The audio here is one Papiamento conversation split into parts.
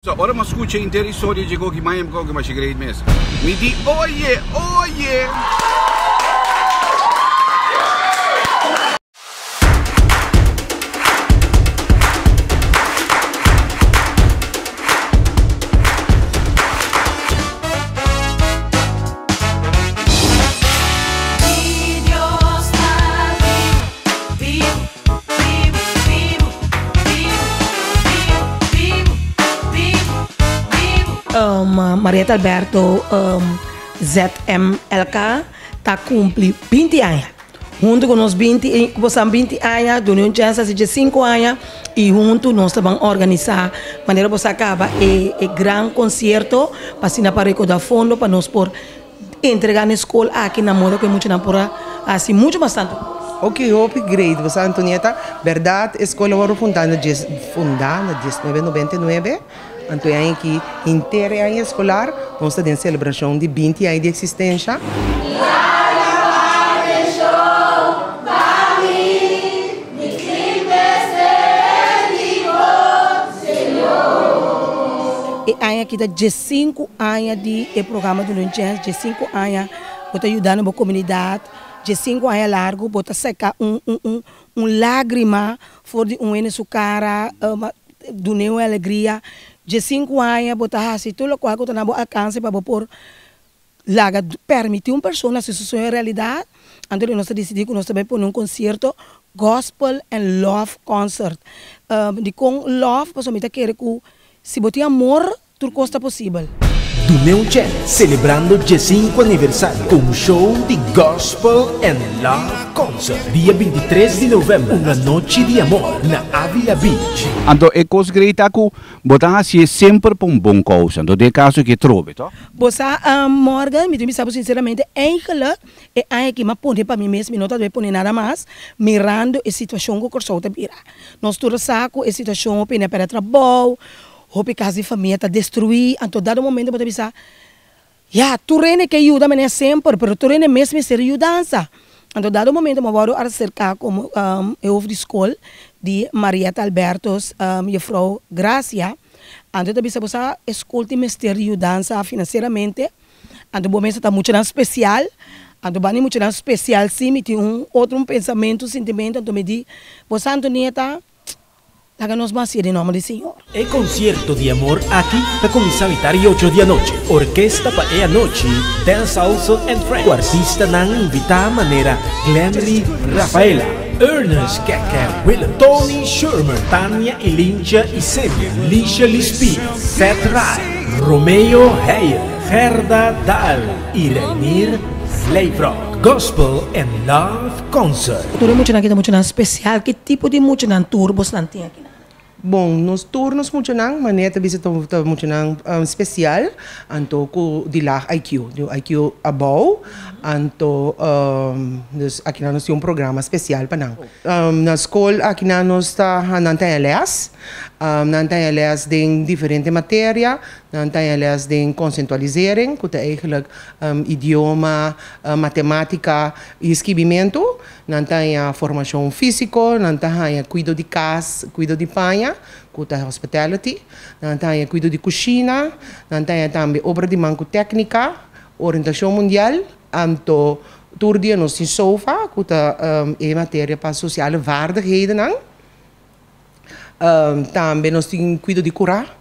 So ora m'a scucha henter historia dje Gogi Maya mi koe ke masha great mes. Mi di oye! Oye! Marieta Alberto ZMLK ta cumpli binti aña. Huntu cu nos binti i cu bosan binti aña, duna un chens haci dje sinku aña i huntu nos ta ban organisa manera boso a caba e gran concierto pa asina pa recorda fondo pa nos por. Entrega na e skol aki na moda ku e muchanan por a hasi muchu mas tantu kos. Ok, hopi great boso Antonietta. Berdad e skol awor a fundá na dies fundá na dies nuebe nobenta i nuebe. Anto e aña aki henter e aña eskolar nos ta den selebrashon di binti aña di eksistensha. E aña aki ta diesinku aña di e programa Dunun Jazz, diesinku aña bo ta yuda na bo komunidat, diesinku aña largu bo ta seka un un un un lágrima for di un hende su kara, dun'é un alegria, diesinku aña bo ta hasi tur lokual ku ta na bo alkanse pa bo por laga permití un persona hasi su sueño realidat, anto di nos ta disidí ku nos ta bai pone un konsierto Gospel and Love Concert. Dikon love? Pasobra mi ta kere ku si bo tin amor, tur kos ta posibel. Duneu Jazz selebrando diesinku aniversario ku un show di Gospel and Love Concert dia binti tres di novèmber, Un Anochi di Amor, na Avila Beach. Anto e kos grei ta ku bo ta hasié semper pa un bon kousa. Anto den e kaso ke trobe, tò? Bo sa Morgan, mi tin bisa bo sinceramente, eigenlijk e aña aki mi a pone pa mi mes, mi no ta debe pone nada mas, mirando e situacion cu Corsou ta bira. Nos tur a sa cu e situacion hopi hende a perde trabou, hopi cas di famia ta destrui, anto dado momento bo ta bisa, ya, tur hende ke yuda mane semper, pero tur hende mes mester yudansa. Anto dado momento mi a wòrdu aserká komo e hof di skol di Marietta Albertus, Jefrouw Gracia, anto e ta bisa bo sa e skol tin mester di yudansa finanseramente, anto bo mes a ta muchanan spesial, anto banda di muchanan spesial si mi tin un otro un pensamentu, sintimentu, anto mi di bo sa Antonietta. Laga nos basia den nomber di Señor. E concierto di amor aki ta cuminsa mita di ocho di anochi. Orkesta pa e anochi Del Salso and Friends cu artistanan invita manera Glenry Rafaela, Ernest Keke Willem, Tony Schurmer, Tania y Lincha y Semio, Lisha Lispie, Seth Rai, Romeo Heyer, Gerda Dahl y Reinier Vleevrog. Gospel and Love Concert. Tur e muchanan aki ta muchanan spesial. Ki tipo di muchanan tur bosnan tin aki nan? Bon, nos tur nos muchanan, Mané ta bisa ta muchanan spesial, anto ku di lag IQ, di un IQ abou. Anto dus aki nan nos tin un programa spesial pa nan. Na skol aki nan nos ta nan taña lès. Nan taña lès den diferente materia. Nan taña lès den konsentualisering, ku ta eigelijk idioma, matematika. E skibimentu, Nan ta haña formashon físiko, nan ta haña kuido di kas, kuido di paña, ku ta hospitality, nan ta haña kuido di kushina, nan ta haña tambe obra di man ku téknika, orientashon mundial, anto tur dia nos tin sofa, ku ta e materia pa sosiale vaardighedennan. Tambe nos tin kuido di kurá,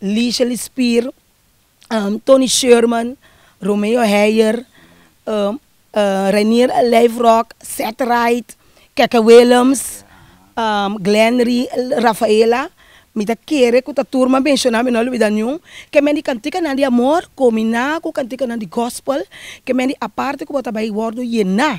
Liesje Lispier, Tony Sherman, Romeo Heyer, Reinier Lijfrock, Seth Wright, Keke Willems, Glenn Rafaela, mi ta kere ku ta tur mas menshoná mi no a lubidá niun, ke men di kantikanan di amor kombiná ku kantikanan di gospel, ke men di a parte ku bo ta bai wòrdu yená.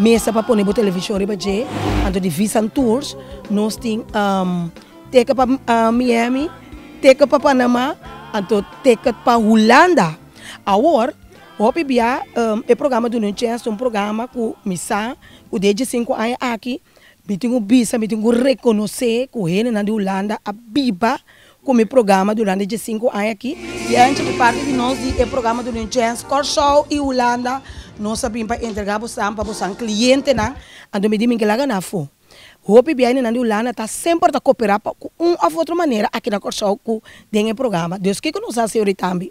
Mesa pa pone bo television riba dje, anto di Visan Tours nos tin ticket pa Miami, ticket pa Panama, anto ticket pa Hulanda. Awor hopi bia e programa duna un chance, ta un programa ku mi sa ku den e dje sinku aña aki mi tin ku bisa, mi tin ku rekonosé ku hendenan di Hulanda a biba Ku mi programa durante dje sinku aña aki, di anchi di parti di nos di e programa Dunu Chance Kòrsou i Hulanda, nos a bin pa entregá bosan pa bosan klientenan, anto mi di mi ke laga nan afó. Hopi biaininan di Hulanda ta semper ta koperá pa ku un òf otro manera aki na Kòrsou ku den e programa. Dus kiko nos a hasi orí tambe?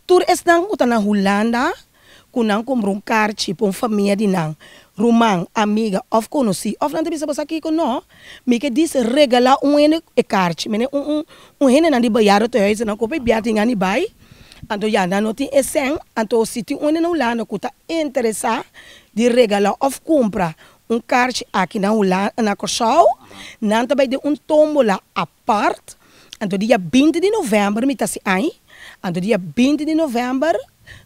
Tur esnan ku ta na Hulanda ku nan kumpra un karchi pa un famia di nan, ruman, amiga òf konosí. Òf nan ta bisa bo, Sa kiko? No. Mi ke dis regalá un hende e karchi. Mi ne un, un, un hendenan di Bayara tòg esei nan koba e biaha tin yani bai. Anto ya, nan no tin e sèn. Anto si tin un hende na Hulanda ku ta interesá di regalá òf kumpra un karchi aki na Hulan, na Kòrsou, nan ta bai den un tómbola. Port, anto dia binti di november mi ta si ai, anto dia binti di november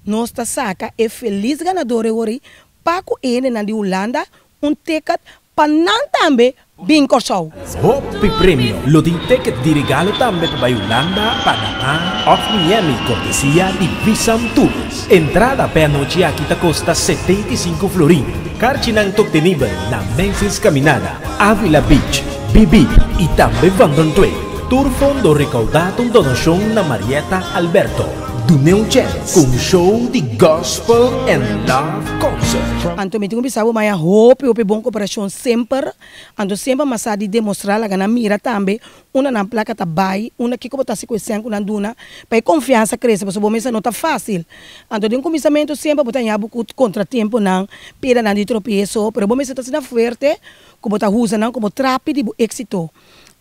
nos ta saka e felis ganador e wori pa ku e hendenan di Hulanda un ticket pa nan tambe bin Kòrsou. Hopi premio lo tin ticket di regalo tambe pa bai Hulanda, Panamá òf Miami kortesia di Visam Tours. Entrada p'e anochi aki ta kosta setenta i sinku florin. Karchinan tok tenibel na Macy's Caminada, Avila Beach, Bibib i tambe Bandon Twin. Tur fondo rekaudá ta un donashon na Marietta Alberto. Dun'é un chèns ku un show di Gospel and Love Concert. Anto mi tin ku bisa bo, maya hopi hopi bon koperashon semper. Anto semper masá di demostrá laga nan mira tambe Unda nan plaka ta bai? Unda kiko bo ta hasi ku e seña ku nan duna pa e konfiansa krese? Pasobra bo mester sa no ta fásil. Anto den kuminsamentu semper bo ta yaña bo ku kontratempunan, pedanan di tropeso, pero bo mester ta asina fuerte ku bo ta usa nan komo trapi di bo éksito.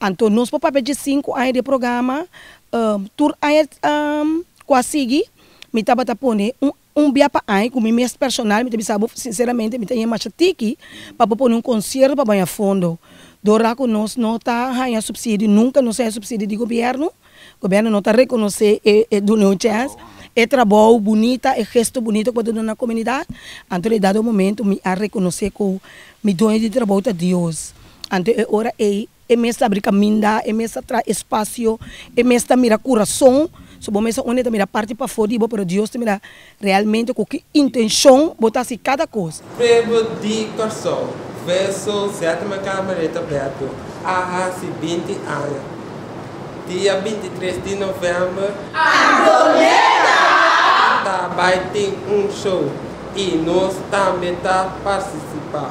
Anto nos por papia dje sinku aña di e programa. Tur aña ku a sigui mi tabata pone un Un bia pa ai ku mi mes personal mi ta bisa bo sinseramente mi ta ña masha tiki pa bo pone un konsierto pa baña fondo dora ku nos no ta haña supsidio nunka nos haña supsidio di gobièrnu, gobièrnu no ta rekonosé e e dun'e un chèns e trabou bunita e gesto bunita ku bo ta duna na komunidat anto e dado momento mi a rekonosé ku mi dueño di trabou ta Dios anto e ora ei E mes ta abri kaminda, e mes ta traha espasio, e mes ta mira kurason. So bo mester uni ta mira parti pafó di bo, pero Dios ta mira realmente ku ki intenshon bo ta hasi kada kos. Pueblo di Kòrsou, Verso, Sètima Kamereta Bèto a hasi binti aña dia bintitres di novèmber. Antonieta ta bai tin un show i nos tambe ta partisipá.